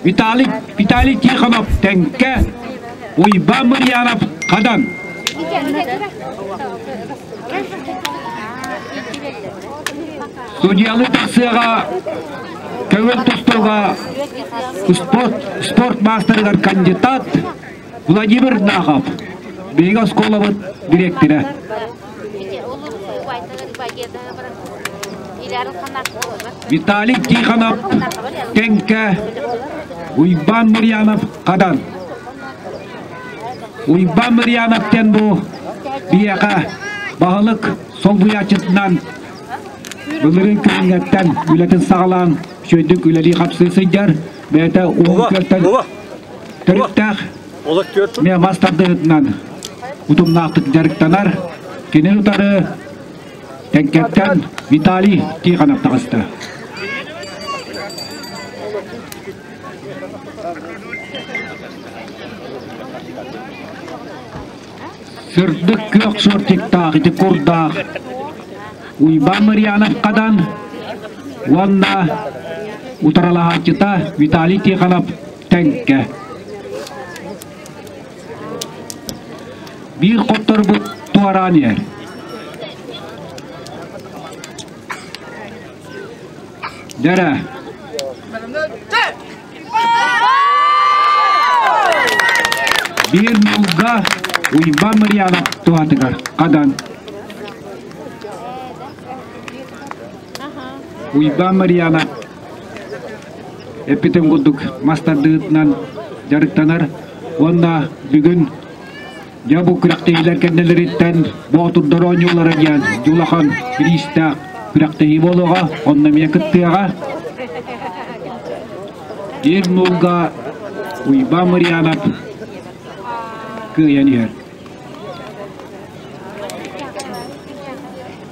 Виталий, Виталий Тихонов, Тэҥкэ, Уйба Мырьянов, Хадан. Судьялыы тахсыаҕа көҥүл тустууга спорт, спорт маастарыгар кандидат Владимир Нахов, биһиги оскуолабыт дириэктирэ. Виталий Тихонов, Тенке, Уйбан Мырьянов, Хадан. Уйбан Мырьянов тен бу биэҕэ баһылык солбуйааччытынан былырын күнүҥҥэттэн үлэтин саҕалаан, үчүгэйдик үлэлии хапсыы сылдьар, бэйэтэ уһун күөлтэн Төрүттээх эмиэ мас тардыһытынан утумнаахтык дьарыктанар кини утары Тэҥкэттэн Виталий Тихонов таҕыста. Сырдык күөх шортиктаах ити курдаах Уйбаан Мариановкадан уонна утаралаһааччыта Виталий Тихонов Тэнкэ. Биир хотторбут туораан иһэр. Дэрэ. Биир мулга Уйбан Мариянов туһатыгар хадан. Уйбан Мариянов эппитим курдук, мас тардыытынан дьарыктанар уонна бүгүн дьэ бу күрэхтэһиилэр кэннилэриттэн Боотурдар оонньуулара диэн дьулахан кириистээх күрэхтэһии буолуоҕа. Онно эмиэ кыттыаҕа. Ир нуурга Уйбаан Мариянов кыайан иһэр.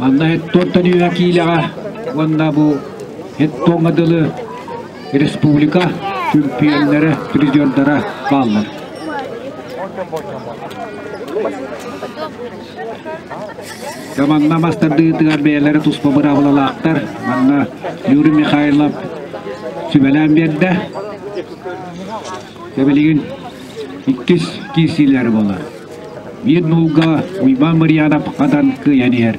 Манна Хеттонтон үө киилэҕэ уонна бу Хеттоҥҥа дылы республика чемпионнара, призердара бааллар. Команда мастардыытыгар бэйэлэрэ туспа быраабылалаахтар. Манна Юрий Михайлов сүбэлээн биэрдэ. Тэбилигин иккис киирсиилэри буолар. Биир нуулга Уйбаан Марьянов хатан кыйан иһэр.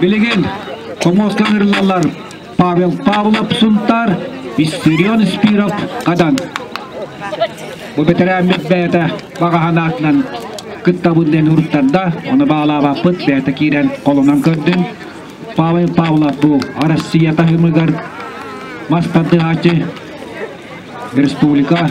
Билигин хомуоска ыҥырыллаллар Павел Павлов Сунтаар, Виссарион Спиров Хадан. Бу бэтэрээммит бэйэтэ баҕаһын аатынан кыттабын диэн уруттарда. Оны баалаабаппыт бэйэтэ киирэн холунан көрдүн. Павел Павлов бу Россия таһымыгар мас тардыһаачы республика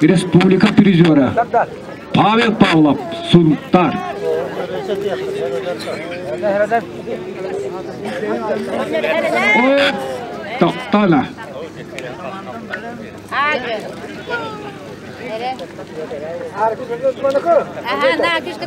республика призера Павел Павлов, Сунтар. От Токтана. Ага, на, кишка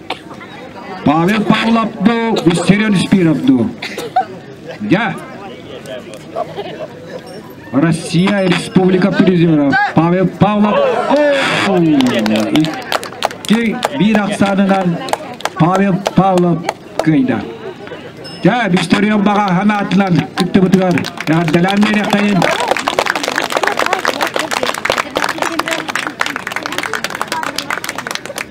Павел Павловду, Виссарион Шпировду. Я. Россия Республика призеров Павел Павлов. Икки биир ахсаанынан Павел Павлов кыйда. Дьэ, Викторион баҕаһам аатынан кыттыбытыгар эҕэрдэлээн биэриэхтэйин.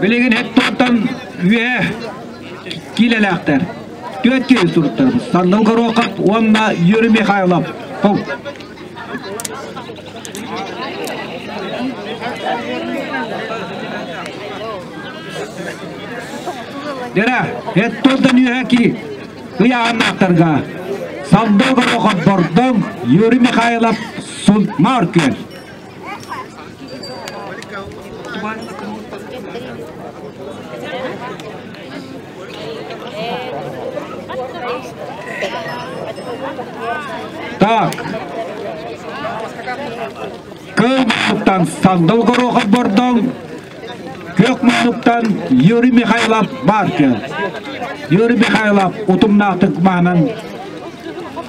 Билигин Эктортан үөһэ киилэлээхтэр. Түөрт киилэ туруктар. Сандал Горохов уонна Юрий Михайлов. Дера, Эктортан үөһэ ки ыйааннаахтарга Сандал Горохов Бордон, Юрий Михайлов Сунмар Күөл. Так. Кылбаттан Сандыл Горохов Бордон, Күөх Мунуктан Юрий Михайлов Баркин. Юрий Михайлов утумнаахтык маанан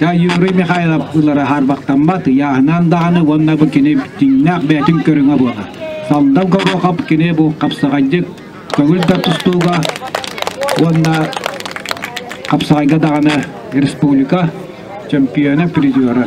Юрий Михайлов ылара харбахтаммат ыйааһынаан даҕаны уонна бу кини дьиҥнээх бэйэтин көрүҥэ буолар. Салдам Горохов кини бу хапсаҕайдык көҥүл да тустууга уонна хапсаҕайга даҕаны республика чемпиона, призера.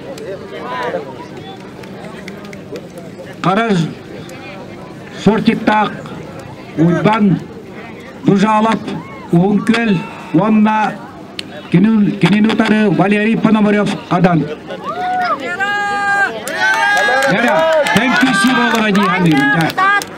Харар Сортиктаах Уйбан Дужалов Уһун Күөл уонна кинини утары Валерий Пономарев Хадан. Эра, thank you, Сиволова Нихандин.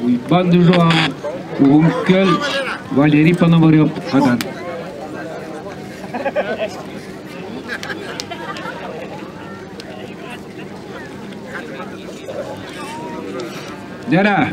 Уйбаан Дыжоам уһук-көл Валерий Пономарев хатан Дара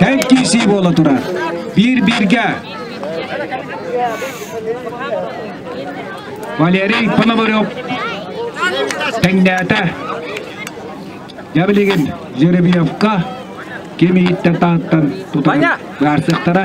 Эн киһи буола турар. Биир-бииргэ. Валерий Пономарев тэҥнээтэ. Я билигин Жеребьевка ким иһиттэн таһыттан тутан баарсыктара.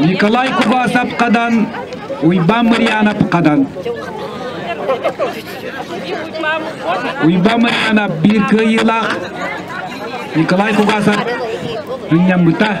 Николай Кубасов-Хадан, Уйбан Мырьянов-Хадан. Уйбан Мырьянов биир кыайыылаах Николай Кугасов сынньаммыта.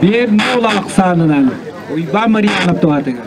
Биир нуул ахсаанынан Уйба Мариянов туһатыгар.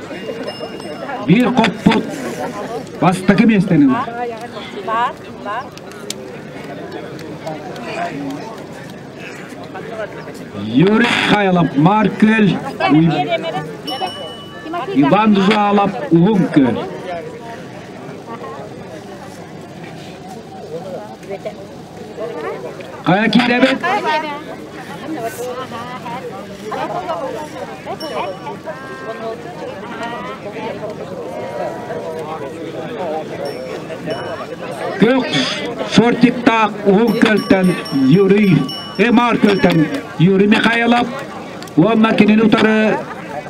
Биир хоппут бастакы миэстэни ылар. Бар, бар. Юрик Хайлов Марк Көл Иван Жуалов Уһун Көл Хайа киирэбит? Көх фортиктаах уһук көлтөн Юрий Эмар көлтөн Юрий Михайлов уонна кинини утары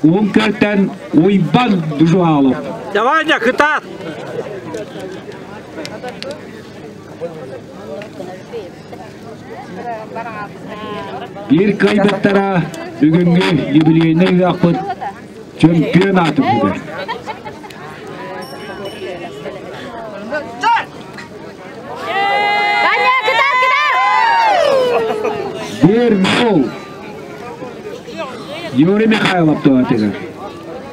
уһук көлтөн Уйбан Дужуалов. Давай, кытаат! Биир кыайбаттара бүгүҥҥү юбилейнай ыһахпыт чемпионат үһүгэр. Дэр гол Юрий Михайлов туоратыгар.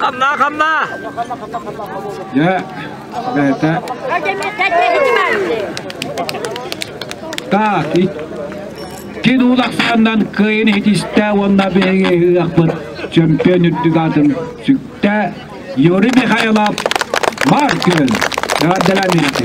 Хамна, хамна! Дьэ, бэйэтэ. Так, икки дуулахсаннан кыйын хитистэ уонна биһиги ыахпыт чемпион үрдүк атын сүктэ Юрий Михайлов Маркин гардаламенты.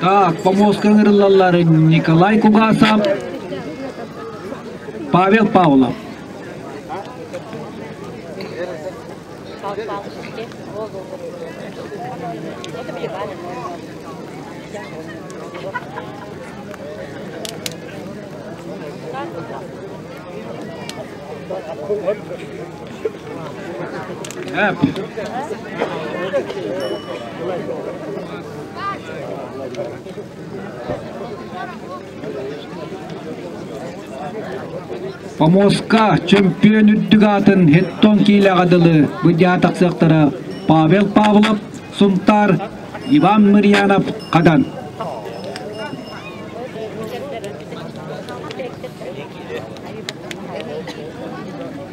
Так, помолвка ыҥырыллаллар Николай Кугасов, Павел Павлов. Помоска чөмпүйүөн үрдүк аатын хеттон киилэҕэ дылы быдьаа тахсыахтара Павел Павлов, Сунтаар, Иван Мырьянов, Хадан.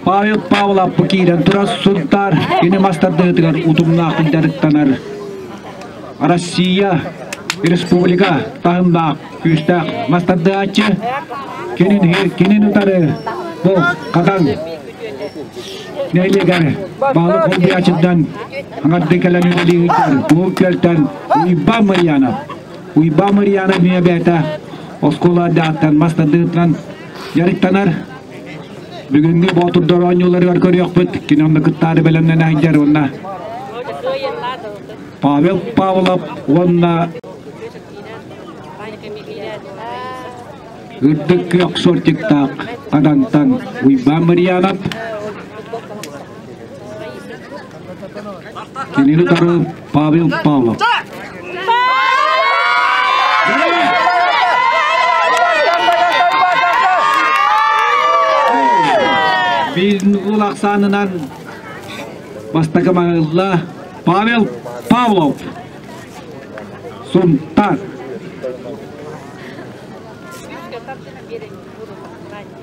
Павел Павлов бу киирэн турар Сунтаар күнү мастардыытыгар утумнаахтык дьарыктанар. Россия республика таһымнаах күүстээх мастардыааччы кинин кинин утары бу хатан нэйлигэр баалык олбуйаачыдан аңарды кэлэн үлэлиир бу көлтөн Уйба Марьянов Уйбаа Мариана Мүөбээтэ оскуола ардагыттан мас тардыытынан дьарыктанар. Бүгүҥҥү Боотурдар оонньууларыгар көрүөхпүт. Кини онно кыттаары бэлэмнэнэ сылдьар уонна Павел Павлов уонна Үрдүк күөх сортиктаах Адантан Уйбаан Мариянов кинини утары Павел Павлов. Биир ахсаанынан бастакы маҕылла Павел Павлов. Сунтар.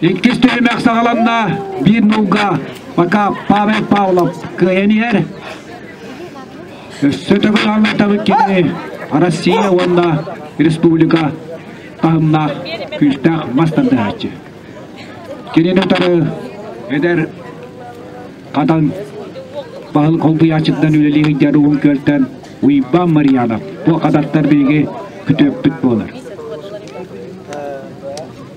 Иккис түһүмэх саҕаланна. Биир нууга пока Павел Павлов кыайан иһэр. Өссө төгүл аллатабыт кини Россия уонна республика таһымнаах күүстээх мас тардыһааччы. Кинини утары эдэр Хатан Паһыл холбуйааччыттан үлэлии сылдьар угун күөлтэн Уйбан Мариянов бу хататтар биһиги күтүөппүт буолар.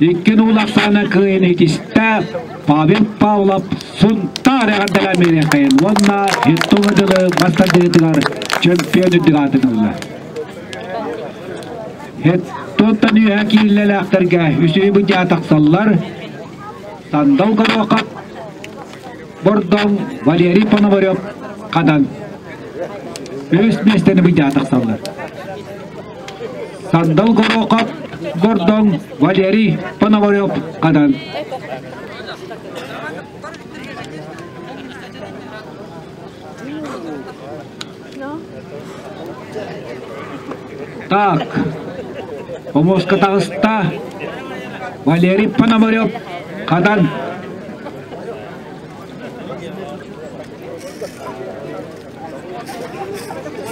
Икки уулу ахсаана кыайан итистэ Павел Павлов Сунтаар эҕэрдэлээн миэрэхэйин уонна Хиттоҥу дылы массардыытыгар чемпион үрдүк аатырылла. Хиттонтон үөһэ киирэлээхтэргэ үсүһү быдьаа тахсаллар. Сандал Горохов Бордоҥ Валерий Пономарев Хадан өс миэстэни быйдаа тахсаллар. Сандал Горохов Бордоҥ Валерий Пономарев Хадан Так, хомуоска таҕыста Валерий Пономарев Хадан.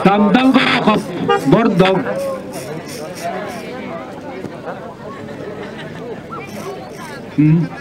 Тамдан Горохов Бордов. Mm-hmm.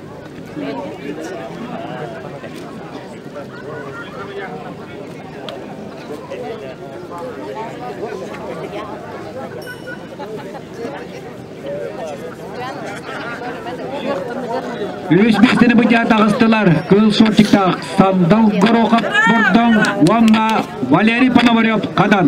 Үс бэхтини быдьа таҕыстылар кыыл суотчуктаах Сандал Горохов Бордоҥ уонна Валерий Пономарев Хадан.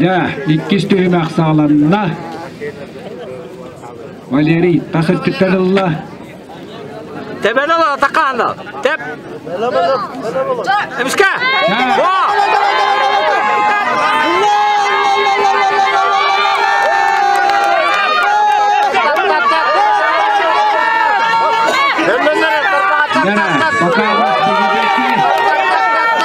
Дьэ, иккис түһүмэх саҕаланна. Валерий, тас өттүттэн ылла. Тебена ла атакана. Теб. Эмишка. Пока вас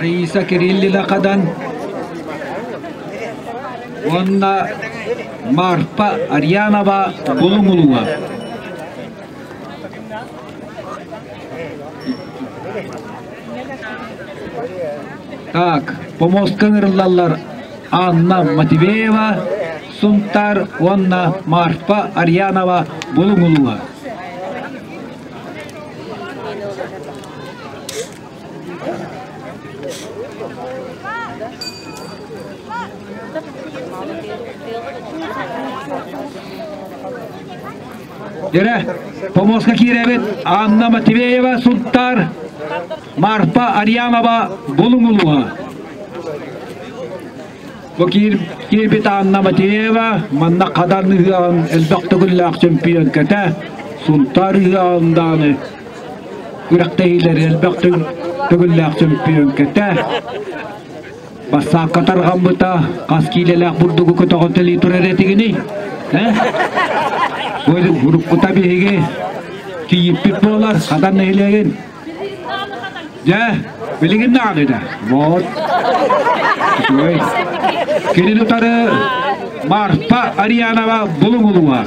Раиса Кириллина Хадан уонна Марфа Арьянова Булумулуга. Так, помостка ырыллаллар Анна Матвеева Сунтар уонна Марфа Арьянова Булугулуга. Дөрө, помоска киирэбит Анна Матвеева Сунтаар, Марфа Арьянова Булуҥ улууһа. Бу киирбит Анна Матвеева манна Хадар ыһыаҕын элбэх төгүллээх чемпион кэтэ Сунтаар ыһыаҕындааны Күрэхтэһиилэр элбэх төгүллээх чөмпүйүөҥкэтэ бассаапка тарҕаммыта хас киилэлээх бурдугу көтөҕүтэлии турар этигиний? Уруккута биһиги тиийиппит буолар хатан нэһилиэгин. Дьэ, билигин даҕаны да. Вот. Үчүгэй. Кинини утары Марфа Ариянова булуҥ улуга.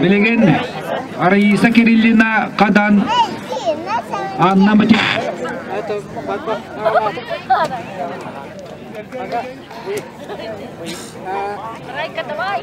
Билигин Раиса Кириллина Хадан Анна Матик Райка, давай!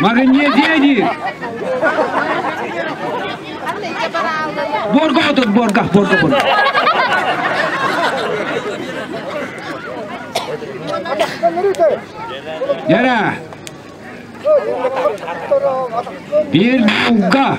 Магнезия диир. Борга отут, борга, борга, борга. Яра. Bir bulga.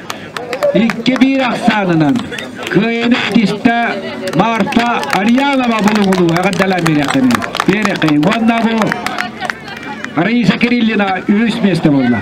Икки-биир ахсаанынан кыайыны итистэ Марта Ариянова булугулуу эҕэрдэлээн биэриэхтэнэ биэриэхтин уонна бу Раиса Кириллина үһүс миэстэ буолла.